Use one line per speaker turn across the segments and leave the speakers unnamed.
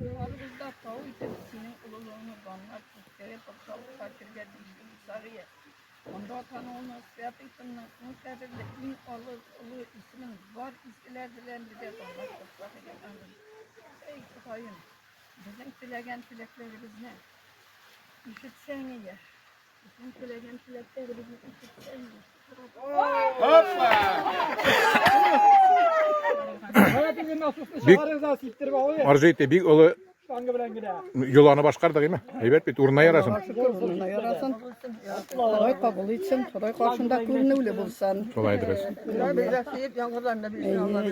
Юлларыбызда тау итеп синең олылыгыңны данлап киткәе патшалык фатиргә тиешле Мусавия. Анда атануына святый тынның иң кадерле, иң олы, олы исемен бар изгеләр белән бергә данлап куйсак иде. Амин. Эй, Ходаем, безнең теләгән теләкләребезне ишетсәң иде.
Бик арзыйты, бик олы Юланы башкардык име? Әйбәт бит, урынына ярасын.
Урынына ярасын. Ходай кабул итсен, Ходай каршында күренүле булсын. Шулай дөрес.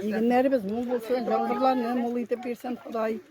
Егеннәребез мул булсын, яңгырларны мул итеп бирсен Ходай.